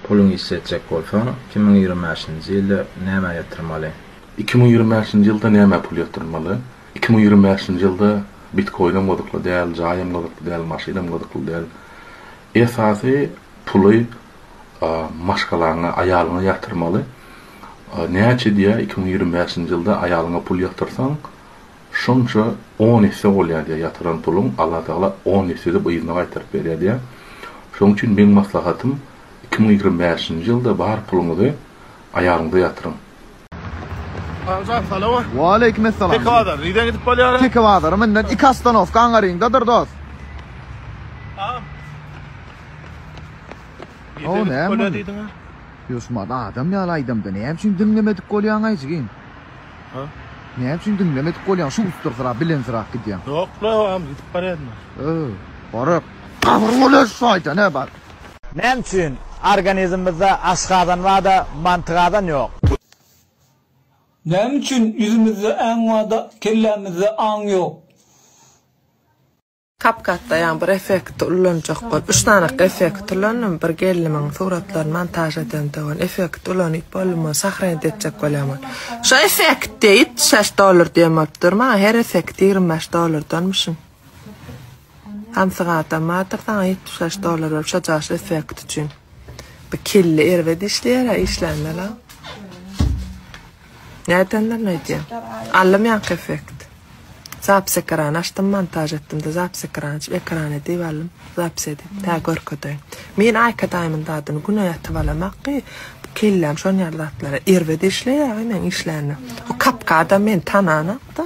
Puluňy işletjek bolsaň, iki müň ýigrimi bäşinji ýylda nämä ýatyrmaly? Iki müň ýigrimi bäşinji ýylda nämä pul ýatyrmaly? Iki müň ýigrimi bäşinji ýylda bitkoinem gyzykly däl, jaýam gyzykly däl, maşynam gyzykly däl. Esasy puly maşgalaňa, aýalyňa ýatyrmaly. Näçe diýýär, iki müň ýigrimi bäşinji ýylda aýalyňa pul ýatyrsaň, Şonça on esse bolýar diýýär, ýatyran puluň Allatagala on esse edip yzyna gaýtaryp berýär diýýär. Şonuň üçin meň maslahatym iki müň ýigrimi bäşinji ýylda bar puluňyzy aýagyňyza ýatyryň. Agajak salama. Waleýkim essalam. Teke bazar nirden gidip bolýara? Teke bazary münden iki ostanowka aňaryňdadyr dos. Agam. Nirden gidip bolýar diýdiňä? Ýoşmaz adam ýaly aýdamda näme üçin diňlemedik bolýaňaý jigim. Hä? Näme üçin diňlemedik bolýaň şu ussyrsyrak bilensirak gidýäň. Ýok la ogam gidip barýadym. Hä. Barak. Gabyr bolar şaýtan hä bar. Näme üçin organizmimizde aşgazan barda mantygazan ýok. Näme üçin ýüzümizde äň barda kellämizde aň ýok. Kapkatda ýa bir effekti ulanjak bolup, üç sany effekti ulandym. Bir gelnimiň suratlaryny montaž edende bolan effekti ulanyp boldum, ony sahranit etjek bolýan bolup. Şu effekt deýip, şeş dollar diýen bolup dur maňa, her effekti ýigrimi bäş dollardanmyşyn. Samsyk adam bardyr saňa ýetmiş bäş dollar berip şo jaşly effekt üçin. Bu kelle erbet işleýär-ä, işlände-la. Nätenden aýdýa. Alym ýaňky effekt. Zapis ekrany açdym, montaž etdimde zapis ekrany açyp ekrany diýip alym. Zapis edip, tä görkedeýin. Men Aýka daýymyň dadyny güne ýatyp alamak ki, kelläm şon ýaly zatlara. Erbet işleýäge men işlände. O kapkada men tananok-da.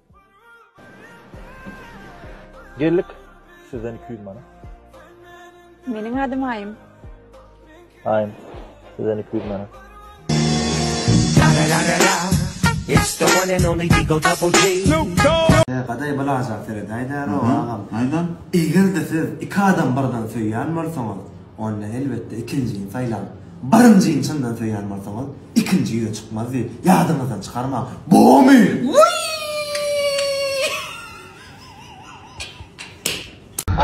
Geldik. Sizden 200 manat. Meniň adym Aýym. Aýym. Sizden 200 manat. It's the one and only Digo Double G. Gaday bir ajap seredäýdäl oňa agam. Aýdan. Eger-de siz iki adam birden söýýän bolsaňyz, onda elbetde ikinjini saýlaň. Birinjini çyndan söýýän bolsaňyz, ikinji ýüze çykmaz diýip, ýadyňyzdan çykarmaň. Bomy!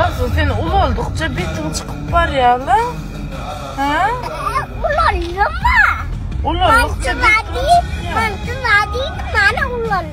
Arzuw sen ulaldykça betiň çykyp barýa la. Hä? Ulalýa ma. Ulalykça betiň çykýa. Mantyz adi, mantyz adi, mana ulalýa.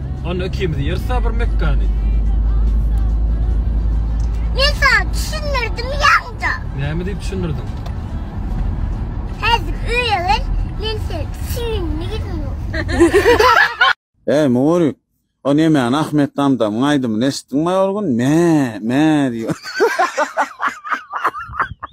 Onda ikimiz ýeris da bir mekgany. Men sana düşündirdim ýaňja. Näme diýip düşündirdiň? Häzir öýe gel, men seni düşündirdim. Eý, Mugurik, o nemäni Ahmet Damdamyň aýdymyny eşitdiňmi ol gün? Mä, mä diýýär.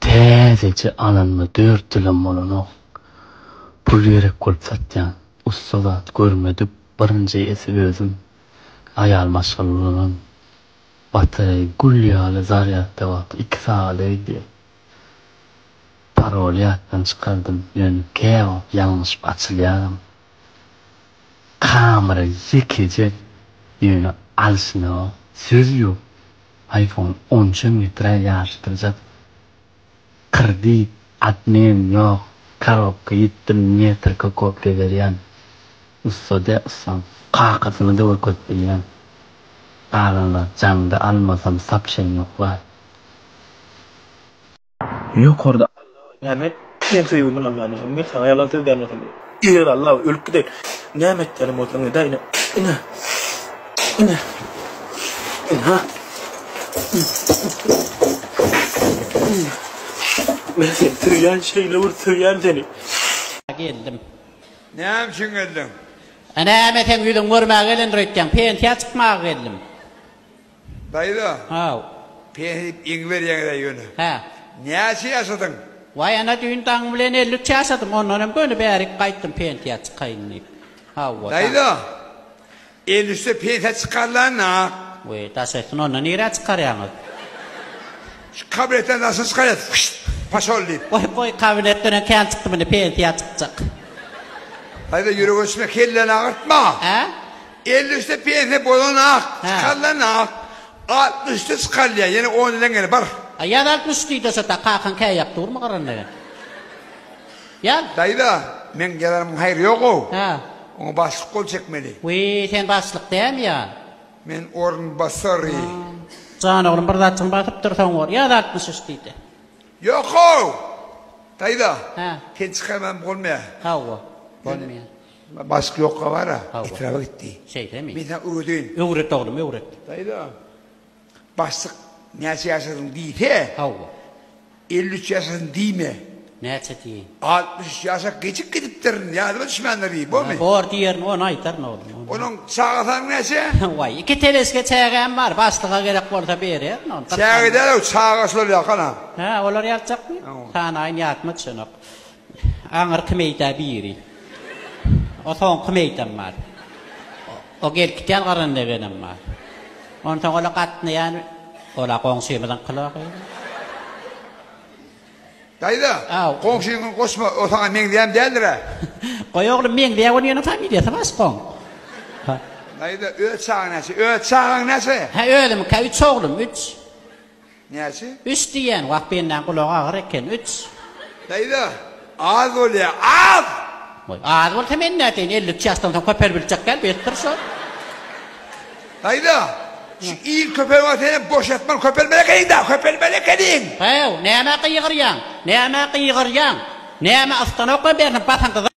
Täzeje alanyma dört ýylam bolanok. Pul gerek bolup satýan. Ussa zat görmedik, birinji esi özüm. Aýal maşgala ulanan. Batareý gül ýaly zarýadda wagty iki sagat öýdi. Paroly ýatdan çykardym, ýöne käwagt ýalňyşyp açylýaram. Kamera ýekeje, ýöne alşyna söz ýok. iPhone on üçe metra ýaryşdyrjak krdit obmen ýok karobka ýitdi metrka kopýa berýän ussada ussam kakasyny da görkezip bilýän galanlar jaňda almasam sapşen ýok waý. Ýokarda Alla näme etdigiň söýgi bilen Allany men saňa ýalan söz dämesin eger Alla ölüp gidip näme etýäniň bolsa ine ine ine ine ine ha men seni söýýän şeýle bir söýýän seni. Geldim. Näme üçin geldiň? Näme seň ýüzüňi görmäge gelendir öýtýäň? Pensiýa çykmaga geldim. Daýza. Haw. Peni diýip iň berýäňiz-ä ýöne. Hä. Näçe ýaşadyň? Waý, ana, düýn daň bilen elli üç ýaşadym, ondan hem göni bärik gaýtdym pensiýa çykaýyn diýip. Hawa, daň. Daýza, elli üçde pensiýa çykarylanda. Weý, daş etsin, onda nirä çykarýaňyz? Şu kabinetden daşa çykarýas, fyşt, paşol diýip. Goý, goý, kabinetden hem kän çykdym, indi pensiýa çykjak. Daýza, ýürek öçme, kelleni agyrtma. Hä? Elli üçde pensiýa bolanok, çykarylanok. Altmyş üçde çykarylýar, ýene on ýylyň gene bar. A ýaz altmyş üç diýdi şo ta kakaň käýýäp durmy gyranda ýa. Ýaz. Daýza, meň ýazanymyň haýry ýog-ow. Hä. Oňa başlyk gol çekmeli. Wiý, sen başlyk dämi ýa? Men orunbasary. Jan oglum, bir zatjygyň basypdyr, soň bor. Ýaz altmyş üç diýdi. Ýok-ow! Daýza. Hä. Sen çykarman bolmaýar. Hawa, bolmaýar. Bask ýokga bara etraba gitdi. Şeýdemi? Men sen öwredin. Öwret oglum öwret. Daýza. Bassyk näçe ýaşadyň diýse. Hawa. 53 ýaşadym diýme. Näçe diýeýin? 63 ýaşap gecik gidipdir. Ýadyma düşmändir diý. Bormy? Bor diýerin ony aýtaryn oglum. Onuň çaga sany näçe? Waý iki teleske çägäm bar. Baslyga gerek bolsa bererin ony. Çäge däl-ow çaga şular ýakana. Hä olar ýatjakmy? Sanaýyn ýatma düşenok. Aňyrky meýda biri. O soňky meýdam bar. O gelkitýän gyryn lebenem bar. Onsoň ola gatnaýan, ol-a goňşymyzyň kylogy. Daýza, goňşyňy goşma, o saňa meňzeýäm däldir-ä. Goý, oglum, meňzeýär, onuň ýene familiýasy baş goň. Daýza, öz çagaň näçe? Öz çagaň näçe? Hä, özümikä üç oglum, üç. Näçe? Üç diýýän, wah bendaň gulagy agyr eken, üç. Daýza, az bolýa, az! Goý, az bolsa men näteýin, elli üç ýaşdan soň köper biljek däl, besdir şo. Daýza, şu il köper bolsa senem boşatman köpermeli ekeniň-dä, köpermeli ekeniň! How, nämä gygyrýaň, nämä gygyrýaň, nämä ystan okap ýörsiň, basyň gyza!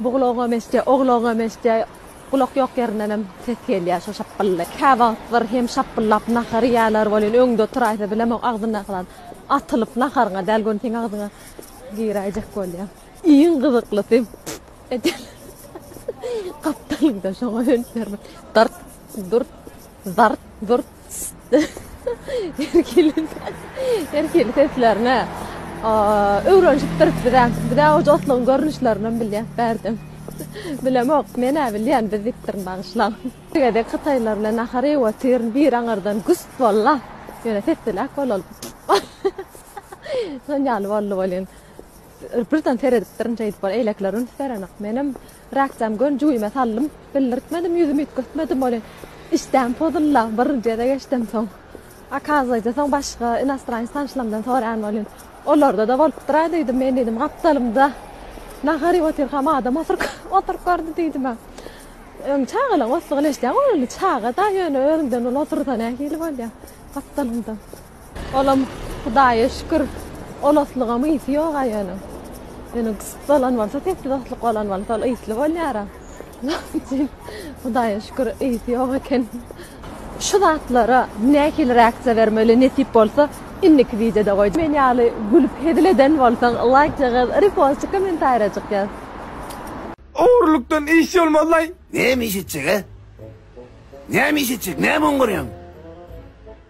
Buglagam eşitýär, oglagam eşitýär. Gulak ýok ýerindenem ses gelýär şo şapbylly. Käwagt bir hem şapbyllap nahar iýýärler welin, öňde oturaýsa bilemok, agzyndaky zat atylyp naharyňa däl, göni seň agzyňa giräýjek bolýar. Iň gyzyklysy, püf edýärler. Gapdalymda şoňa hönt bermän, dyrt, dürt, zart, zurt. Her hili seslerine öwrenşipdiris bizem. Biz-ä oje otlugyň görnüşlerini hem bilýäs bärde. Bilemok, men-ä bilýän, biz diýipdirin bagyşlaň. Bir gezek hytaýlar bilen nahar iýip otyryn, biri aňyrdan güst boldy-la, ýöne sesliräk bolalyp. Şon ýaly boldy welin, Birden seredipdirin şeýdip ol eýlekler üns berenak. Menem rakjam gön jübime saldym. Bildirtmedim ýüzümi üýtgetmedim welin işdäm pozulda birinjide geçdim soň okazwayce soň başga inostranec tanyşlamdan soraýan welin olarda-da bolupdyra diýdim men diýdim gapdalymda nahar iýip otyrkam adam oturyp oturyp gördi diýdimä öň çagalaň otlugyny eşidýäň ol çaga-da ýöne özüňden uly otursa nähili bolýa gapdalymda. Olam Hudaýa şükür olaslygam ysy ýoga ýöne. Ýöne gysyp bolan bolsa sesli dostluk bolan bolsa ol ysly bolýara. Hudaýa şükür ysy ýok eken. Şu zatlara nähili reaksiýa bermeli nesip bolsa indiki wideoda goý. Men ýaly gülüp hezil eden bolsaň laýk jagaz repostjyk komentarýajyk ýaz. Ogurlykdan iş bolmazlaý. Näme iş etjek-ä? Näme iş etjek? Näme oňňarýaň?